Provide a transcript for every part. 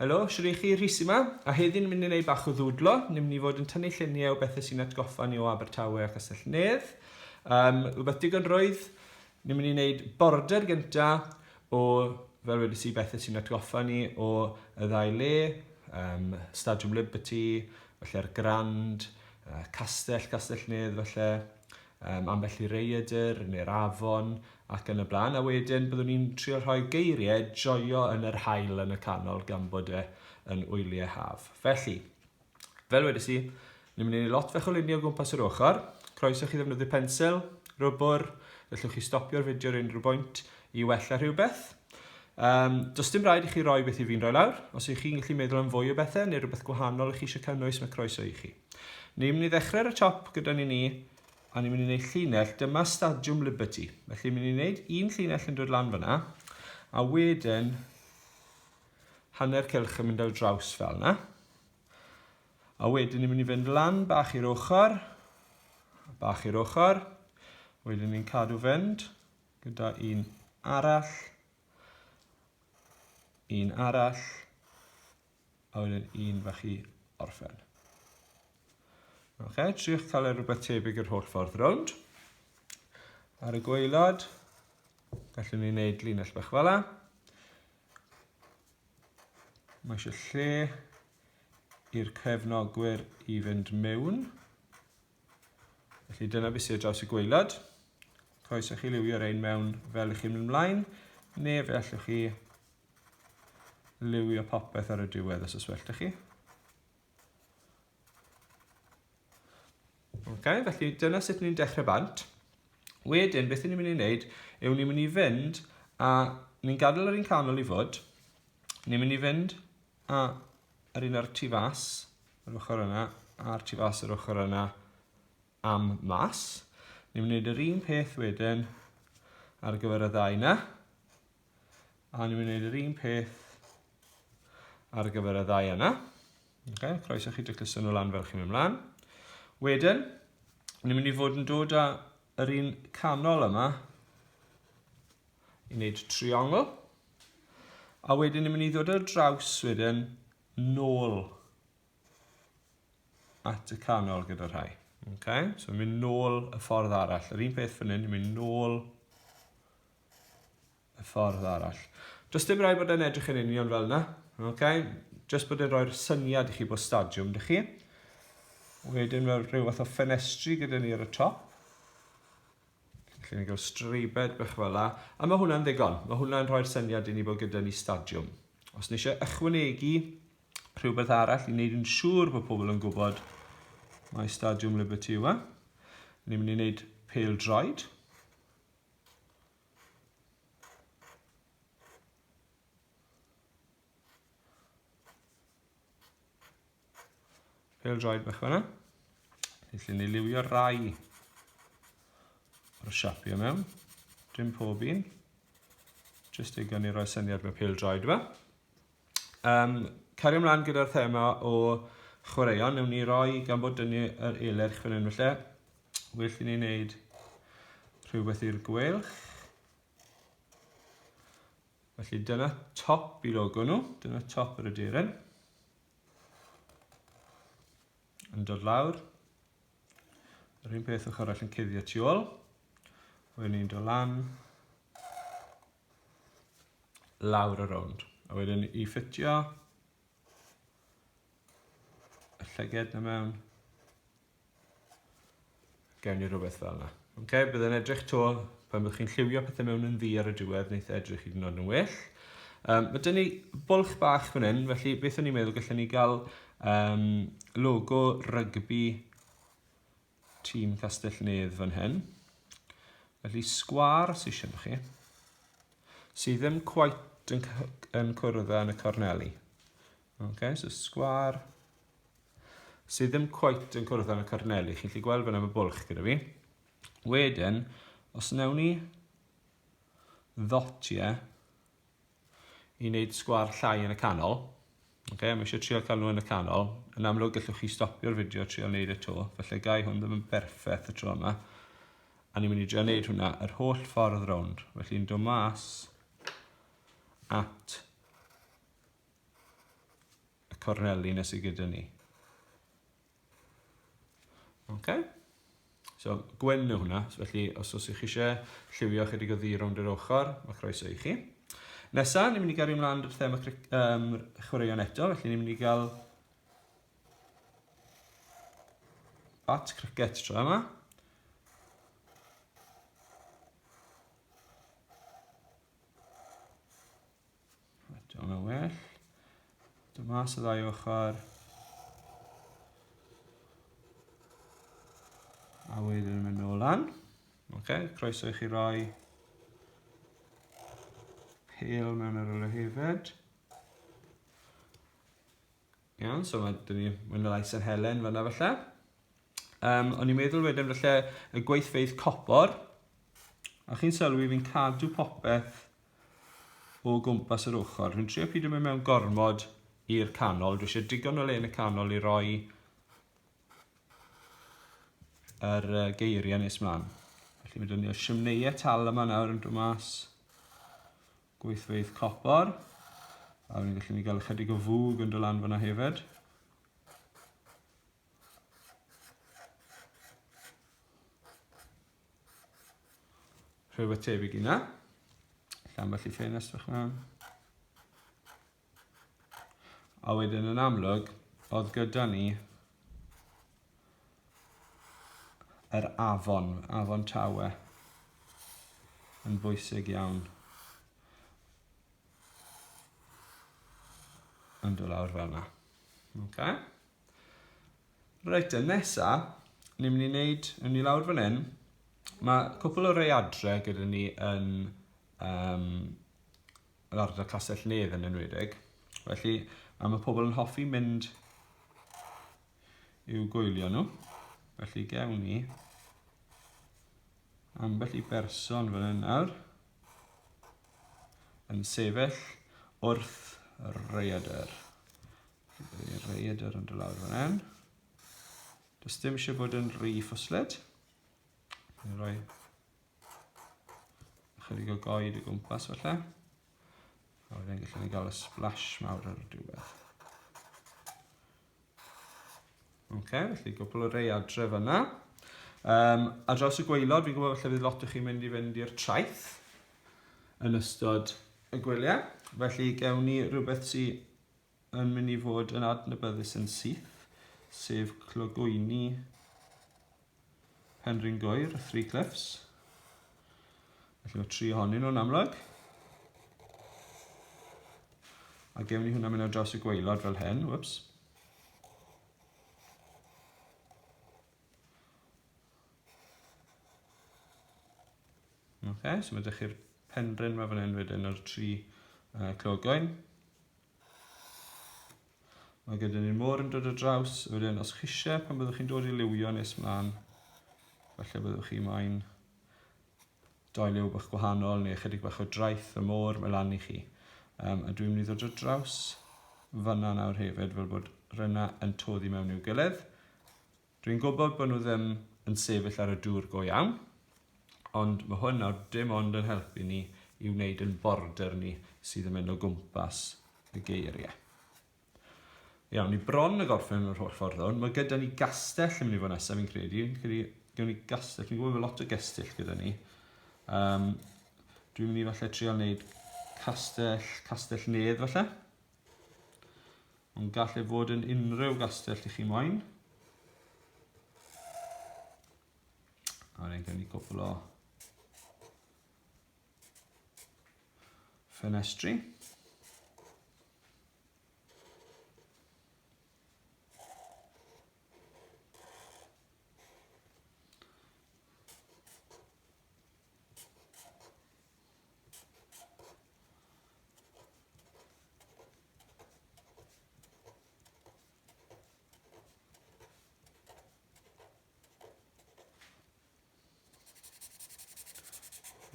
Helo, siwr i chi, Rhys yma, a heddiw'n mynd i wneud bach o ddwdlo. Ni'n mynd i fod yn tynnu lluniau o bethau sy'n atgoffa ni o Abertawe a Castell Nedd. Um, rhywbeth digon roedd, ni'n mynd i wneud border gynta o, fel wedi si, bethau sy'n atgoffa ni o y ddau le, um, Stadiwm Liberty, felly'r Grand, uh, Castell, Castell Nedd, felly. um, ambell i reidr neu'r afon ac yn y blaen, a wedyn byddwn ni'n trio rhoi geiriau joio yn yr hael yn y canol gan bod e yn wyliau haf. Felly, fel wedi si, ni'n mynd i ni lot fe cholinio gwmpas yr ochr, croeso chi ddefnyddio pensel, rwbwr, gallwch chi stopio'r fideo ar unrhyw bwynt i wella rhywbeth, Um, does dim rhaid i chi roi beth i fi'n rhoi lawr. Os ych chi'n gallu meddwl am fwy o bethau neu rhywbeth gwahanol ych chi eisiau cynnwys, mae croeso i chi. Ni'n mynd i ddechrau ar y top gyda ni ni, a ni'n mynd i wneud llinell, dyma Stadiwm Liberty. Felly ni'n mynd i wneud un llinell yn dod lan fyna, a wedyn hanner cylch yn mynd ar draws fel yna. A wedyn ni'n mynd i fynd lan bach i'r ochr, bach i'r ochr. Wedyn ni'n cadw fynd. gyda un arall, un arall, a wedyn un fach i orffen. Oce, triwch cael e rhywbeth tebyg yr holl ffordd rownd. Ar y gweilad, gallwn ni wneud linell bach fel la. Mae eisiau lle i'r cefnogwyr i fynd mewn. Felly dyna beth sydd dros y gweilod. Croes i chi liwio rein mewn fel ych chi'n mynd ymlaen, neu fe allwch chi liwio popeth ar y diwedd os yswellt ych chi. Okay, felly dyna sut ni'n dechrau bant. Wedyn, beth ni'n mynd i wneud yw ni'n mynd i fynd a ni'n gadael yr un canol i fod. Ni'n mynd i fynd a yr un ar tu fas yr ochr yna, a'r tu fas yr ochr yna am mas. Ni'n gwneud yr un peth wedyn ar gyfer y ddau yna. A ni'n gwneud yr un peth ar gyfer y ddau yna. Okay, croeso chi dycluso nhw lan fel chi'n mynd mlaen. Wedyn, ni'n mynd i fod yn dod â yr un canol yma i wneud triongl. A wedyn ni'n mynd i ddod ar draws wedyn nôl at y canol gyda rhai. Okay? So ni'n mynd nôl y ffordd arall. Yr un peth fan hyn, ni'n mynd nôl y ffordd arall. Does dim rhaid bod e'n edrych yn union fel yna. Okay? Just bod e'n rhoi'r syniad i chi bod stadiwm, dych chi. Wedyn mae rhywbeth o ffenestri gyda ni ar y top. Felly ni'n cael streibed bach fel la. A mae hwnna'n ddigon. Mae hwnna'n rhoi'r syniad i ni bod gyda ni stadiwm. Os ni eisiau ychwanegu rhywbeth arall i wneud yn siŵr bod pobl yn gwybod mae Stadiwm Liberty yw e. Ni'n mynd i wneud pel droed. Pêl droed bach fanna. Felly ni liwio rai o'r siapio mewn. Dim pob un. Just ei gan i roi syniad mewn pêl droed yma. Um, cario ymlaen gyda'r thema o chwaraeon, newn ni roi gan bod dynnu yr eler chwyn yn felly. Well i ni wneud rhywbeth i'r gwelch. Felly dyna top i logo nhw, dyna top yr aderyn. Yn dod lawr. Yr un peth ochr all yn cuddio tu ôl. Wedyn ni'n dod lan. Lawr y rownd. A wedyn i ffitio y llyged na mewn. Gawn ni rhywbeth fel yna. Ok, bydd yn edrych to pan byddwch chi'n lliwio pethau mewn yn ddi ar y diwedd, wneud e edrych hyd yn oed yn well. Um, mae dyn ni bwlch bach fan hyn, felly beth o'n i'n meddwl gallwn ni gael um, logo rygbi tîm Castellnedd fan hyn. Felly sgwar sy'n eisiau chi, sydd ddim cwait yn, yn cwrdd yn y corneli. Ok, so sgwar sydd ddim cweit yn cwrdd â corneli. Chi'n lli gweld fan am y bwlch gyda fi. Wedyn, os newn ni ddotie i wneud sgwar llai yn y canol, okay, mae eisiau trio cael nhw yn y canol, yn amlwg gallwch chi stopio'r fideo a trio wneud y to, felly gai hwn ddim yn berffaith y tro yma, a ni'n mynd i drio wneud hwnna yr holl ffordd rownd, felly'n dod mas at y corneli nes i gyda ni. Okay. So, gwyn yw hwnna, so felly os oes chi eisiau lliwio chydig o ddi rownd yr ochr, mae croeso i chi. Nesa, ni'n mynd i gario ymlaen i'r thema um, chwaraeon eto, felly ni'n mynd i gael bat cricket tro yma. Right, o'n yn well. Dyma sydd ddau ochr. A wedyn yn mynd nôl lan. Okay, croeso i chi roi pêl mewn yr yle hefyd. Iawn, so mae dyn ni mwy na lai San Helen fanna falle. Um, o'n i'n meddwl wedyn falle y gweithfeidd copor. A chi'n sylwi fi'n cadw popeth o gwmpas yr ochr. Rwy'n trio pidio mynd mewn gormod i'r canol. Dwi eisiau digon o le yn y canol i roi yr uh, geiriau nes mlaen. Felly mae dyn ni o siwmneiau tal yma nawr yn dod mas. Gweithfeydd copor. A fi'n gallu ni gael ychydig o fwg yn dy lan fyna hefyd. Rhywbeth tebyg i na. Lle ambell i ffenest fach na. A wedyn yn amlwg, oedd gyda ni yr afon, afon Tawe, yn bwysig iawn. Yn dod lawr fel yna. Okay. Reit, yn nesa, ni'n mynd i wneud, yn ni lawr fan hyn, mae cwpl o rei adre gyda ni yn um, yr ardal Castell Nedd yn enwedig. Felly, am y pobl yn hoffi mynd i'w gwylio nhw, felly gewn ni ambell i berson fan hyn nawr yn sefyll wrth y reidr. Y reidr yn dylawr fan hyn. Does dim eisiau bod yn rhy ffwsled. Rwy'n rhoi Chydig o goed o gwmpas falle. A wedyn gallwn ni gael y splash mawr ar y diwedd. Oce, okay, felly gwbl o rei adref yna. Um, a draws y gweilod, fi'n gwybod falle bydd lot o chi'n mynd i fynd i'r traeth yn ystod y gwyliau. Felly, gewn ni rhywbeth sy'n yn mynd i fod yn adnabyddus yn syth, sef clogwyni Penrhyn Goer, y Three Cliffs. Felly mae tri ohonyn nhw'n amlwg. A gewn ni hwnna mynd ar draws y gweilod fel hyn, whoops. Okay, so mae ydych chi'r penrhyn mae fan hyn wedyn o'r tri uh, clogoen. Mae gyda ni môr yn dod o draws, wedyn os chise pan byddwch chi'n dod i liwio nes mlaen, felly byddwch chi mae'n doi liw bach gwahanol neu ychydig bach o draeth y môr, mae lan i chi. Um, a dwi'n mynd i ddod o draws fanna nawr hefyd fel bod rynna yn toddi mewn i'w gilydd. Dwi'n gwybod bod nhw ddim yn sefyll ar y dŵr go iawn, ond mae hwn nawr dim ond yn helpu ni i wneud yn border ni sydd yn mynd o gwmpas y geiriau. Iawn, ni bron y gorffen o'r holl ffordd hwn. Mae gyda ni gastell yn mynd i fod nesaf, fi'n credu. Credu, gyda ni gastell, fi'n gwybod bod lot o gastell gyda ni. Um, dwi'n mynd i falle trial wneud castell, castell nedd falle. Mae'n gallu bod yn unrhyw gastell i chi moyn. A wedyn gen i gwbl o ffenestri.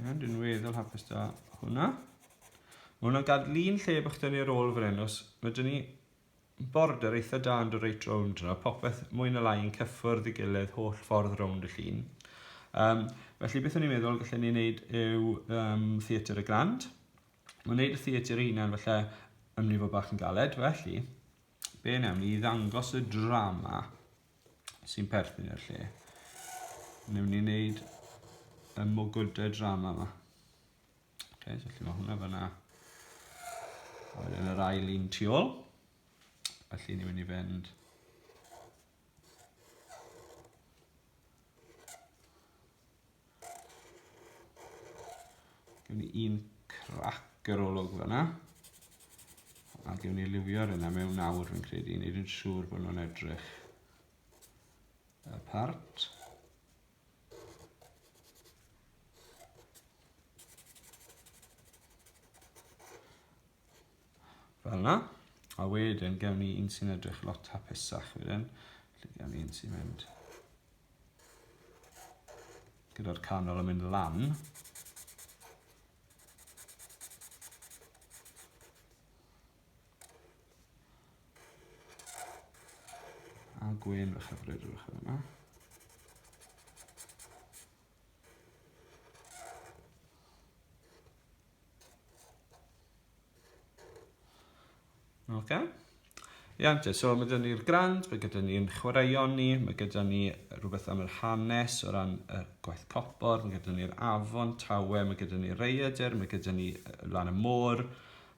Iawn, dwi'n weddol hapus da hwnna. Mae hwnna'n gadlu'n lle bych dynnu ar ôl fan hyn, os mae dyn ni Border eitha da ond reit rownd yno, popeth mwy na lai yn cyffwrdd i gilydd holl ffordd rownd y llun. Um, felly beth o'n i'n meddwl gallen ni wneud yw um, theatr y grand. Mae'n wneud y theatr ei hunan felly yn mynd i fod bach yn galed, felly be wnawn ni ddangos y drama sy'n perthyn i'r lle. Newn ni wneud y mogwydau drama yma. Okay, so felly mae hwnna fyna. A wedyn yr ail un tu ôl. Felly ni'n mynd i fynd Gwn i un crac yr olwg fyna. A gwn i liwio ar yna mewn awr fi'n credu. Nid yn siŵr bod nhw'n edrych apart. Fel yna. A wedyn gewn ni un sy'n edrych lot hapusach wedyn. Felly gewn ni un sy'n mynd gyda'r canol yn mynd lan. A gwyn fach a bryd fach yma. Okay. Ia, yeah, so mae gyda ni'r grand, mae gyda ni'n chwaraeon ni, mae gyda ni rhywbeth am yr hanes o ran y gwaith copor, mae gyda ni'r afon, tawe, mae gyda ni reiadur, mae gyda ni lan y môr,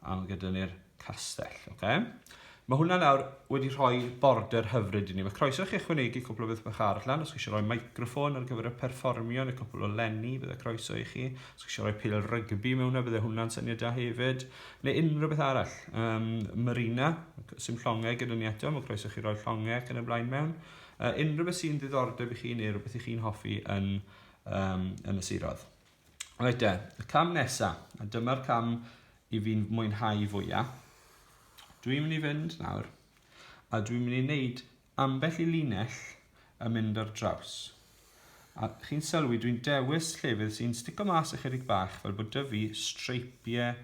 A mae gyda ni'r castell, oce? Okay? Mae hwnna nawr wedi rhoi border hyfryd i ni. Mae croeso chi ychwanegu cwpl o beth bach arall lan. Os chi eisiau rhoi microffon ar gyfer y perfformio neu cwpl o lenni, bydde croeso i chi. Os chi eisiau rhoi pil rygbi mewn yna, bydde hwnna'n syniad da hefyd. Neu unrhyw beth arall. Um, Marina, sy'n llongau gyda ni eto, mae croeso chi roi llongau ac yn y blaen mewn. Uh, unrhyw beth sy'n ddiddordeb i chi neu rhywbeth i chi'n hoffi yn, um, yn y sirodd. Reit de, y cam nesa, a dyma'r cam i fi'n mwynhau fwya. Dwi'n mynd i fynd nawr, a dwi'n mynd i wneud ambell i linell yn mynd ar draws. A chi'n sylwi, dwi'n dewis llefydd sy'n stico mas ychydig bach fel bod dyfu streipiau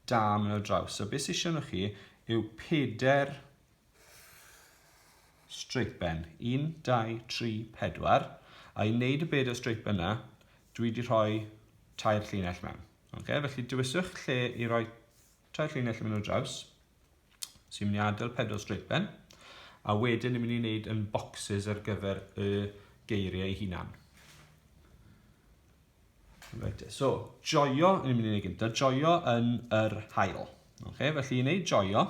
da mynd ar draws. So beth sy'n siarad chi yw peder straight ben. 1, 2, 3, 4. A i wneud y bed o straight ben yna, dwi wedi rhoi tair llinell mewn. Okay? Felly dewiswch lle i roi tair llinell mewn o draws sy'n mynd i adael pedwar straight ben a wedyn ni'n mynd i wneud yn boxes ar gyfer y geiriau hunan. Reit, so, joio, ni'n mynd i wneud gyntaf, joio yn yr hael. Okay, felly i wneud joio,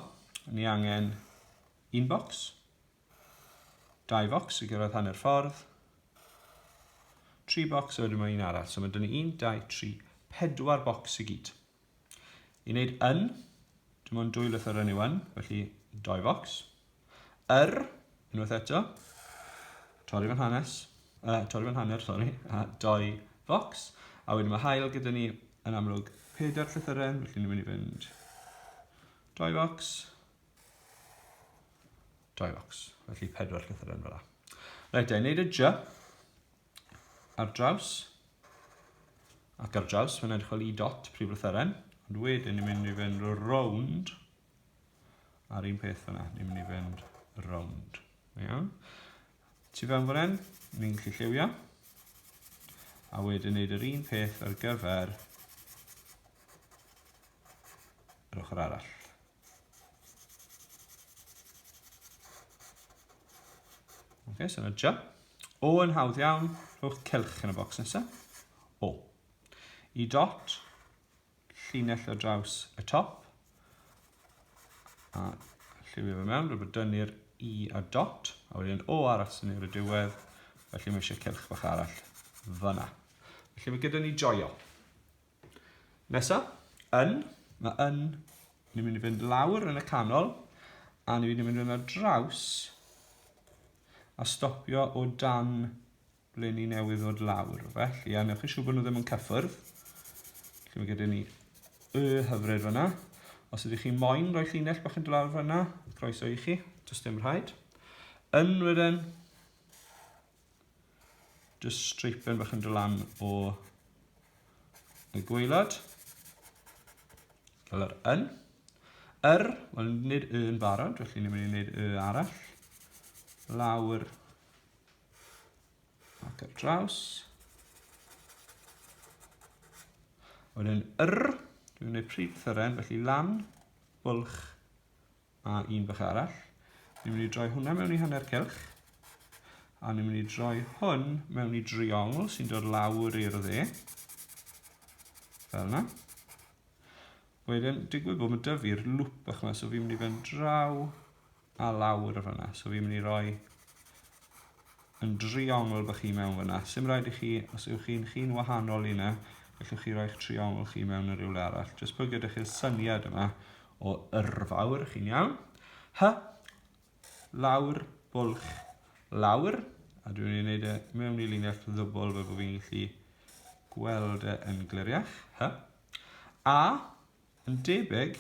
ni angen un bocs, dau bocs i gyrraedd hanner ffordd, tri bocs a wedyn mae un arall. So mae dyn ni un, dau, tri, pedwar bocs i gyd. I wneud yn, dim ond dwy lythyr yn yw yn, felly doi focs. Yr, unwaith eto, torri fan hanes, uh, torri fan hanner, sori, a doi focs. A wedyn mae hael gyda ni yn amlwg pedair llythyren, felly ni'n mynd i fynd doi focs, doi focs, felly pedwar llythyren fel yna. Reit, da, i wneud y j, ar draws ac ar draws, mae'n edrych fel i dot prif lythyren, ond wedyn ni'n mynd i fynd rownd a'r un peth fyna, ni'n mynd i fynd rownd. Iawn? Tu fewn fan hyn, ni'n gallu lliwio, a wedyn wneud yr un peth ar gyfer yr ochr arall. Ok, so yna jump. O yn hawdd iawn, rhowch celch yn y bocs nesaf. O. I dot, llinell o draws y top. A lliwio fe mewn, rwy'n dynnu'r i a dot, a wedyn o arall sy'n i'r diwedd, felly mae eisiau celch bach arall fyna. Felly mae gyda ni joio. Nesa, yn. Mae yn ni'n mynd i fynd lawr yn y canol a ni'n mynd i fynd yna draws a stopio o dan ble ni newydd ddod lawr. Felly, a newch chi siŵr bod nhw ddim yn cyffwrdd. Felly mae gyda ni y hyfryd fyna. Os ydych chi moyn rhoi llinell bach yn dod lawr fyna, croeso i chi, does dim rhaid. Yn wedyn, Just streipen bach yn dod lan o y gweilad. Fel yr yn. Yr, wel nid y yn barod, felly ni'n mynd i wneud y arall. Lawr ac ar draws. Wedyn yr, dwi'n gwneud pryd thyren, felly lan, bwlch, a un bach arall. Ni'n mynd i droi hwnna mewn i hanner cylch. A ni'n mynd i droi hwn mewn i driongl sy'n dod lawr i'r dde. Fel yna. Wedyn, digwydd bod mae dyfu'r lŵp bach yma, so fi'n mynd i fynd draw a lawr o fanna. So fi'n mynd i roi yn driongl bych chi mewn fyna. Sim rhaid i chi, os ywch chi'n chi'n wahanol i yna, gallwch chi roi'ch triongl chi mewn yn rhywle arall. Jyst bod gyda chi'r syniad yma o yrfawr, chi'n iawn. Hy, lawr, bwlch, lawr. A dwi'n ei wneud e mewn i linell ddwbl fel bod fi'n gallu gweld e yn gliriach. Hy. A, Yn debyg,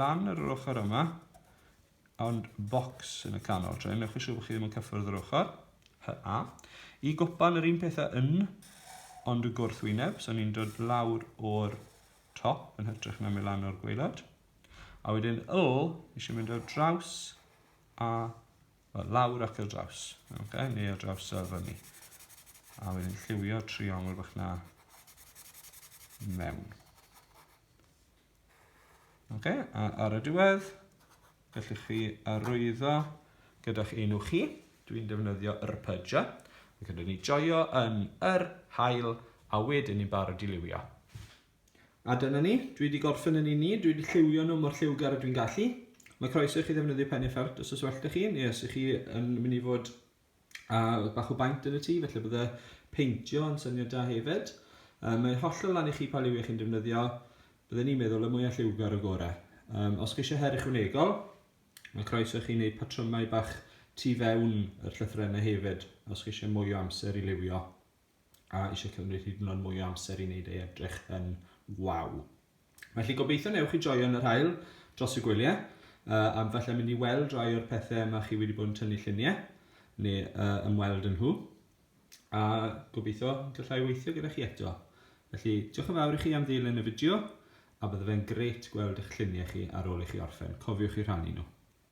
lan ar yr ochr yma, ond bocs yn y canol. Tra, newch yn siŵr bod chi ddim yn cyffwrdd yr ochr. HA. Y gwpan yr un pethau yn, ond y gwrthwyneb, so ni'n dod lawr o'r top yn hytrach na mynd lan o'r gweilod. A wedyn yl, eisiau mynd ar draws a Wel, lawr ac ar draws. Okay, neu ar draws ar fyny. A wedyn lliwio triongl bach na mewn. Okay, a ar y diwedd, gallwch chi arwyddo gyda'ch enw chi. Dwi'n defnyddio yr pydja. Ac ydyn ni joio yn yr hael a wedyn ni'n barod i liwio. A dyna ni, dwi 'di gorffen yn un ni, dwi 'di lliwio nhw mor lliwgar ydw i'n gallu. Mae croeso i chi ddefnyddio pen effart os oes well da chi, neu os ych chi yn mynd i fod â bach o baint yn y tŷ, felly bydde peintio yn syniad da hefyd. Um, mae'n hollol lan i chi pa liwiau chi'n defnyddio, bydden ni'n meddwl y mwyaf lliwgar o gorau. Um, os chi eisiau her ychwanegol, mae croeso i chi wneud patrymau bach tu fewn yr llythrennau hefyd, os chi eisiau mwy o amser i liwio. a eisiau cymryd hyd yn oed mwy o amser i wneud ei edrych yn waw. Felly gobeithio newch chi joio yn yr hael dros y gwyliau, uh, am falle mynd i weld rhai o'r pethau yma chi wedi bod yn tynnu lluniau, neu uh, ymweld yn nhw, a gobeithio gallai weithio gyda chi eto. Felly, diolch yn fawr i chi am ddilyn y fideo, a bydde fe'n grêt gweld eich lluniau chi ar ôl i chi orffen. Cofiwch i rhannu nhw.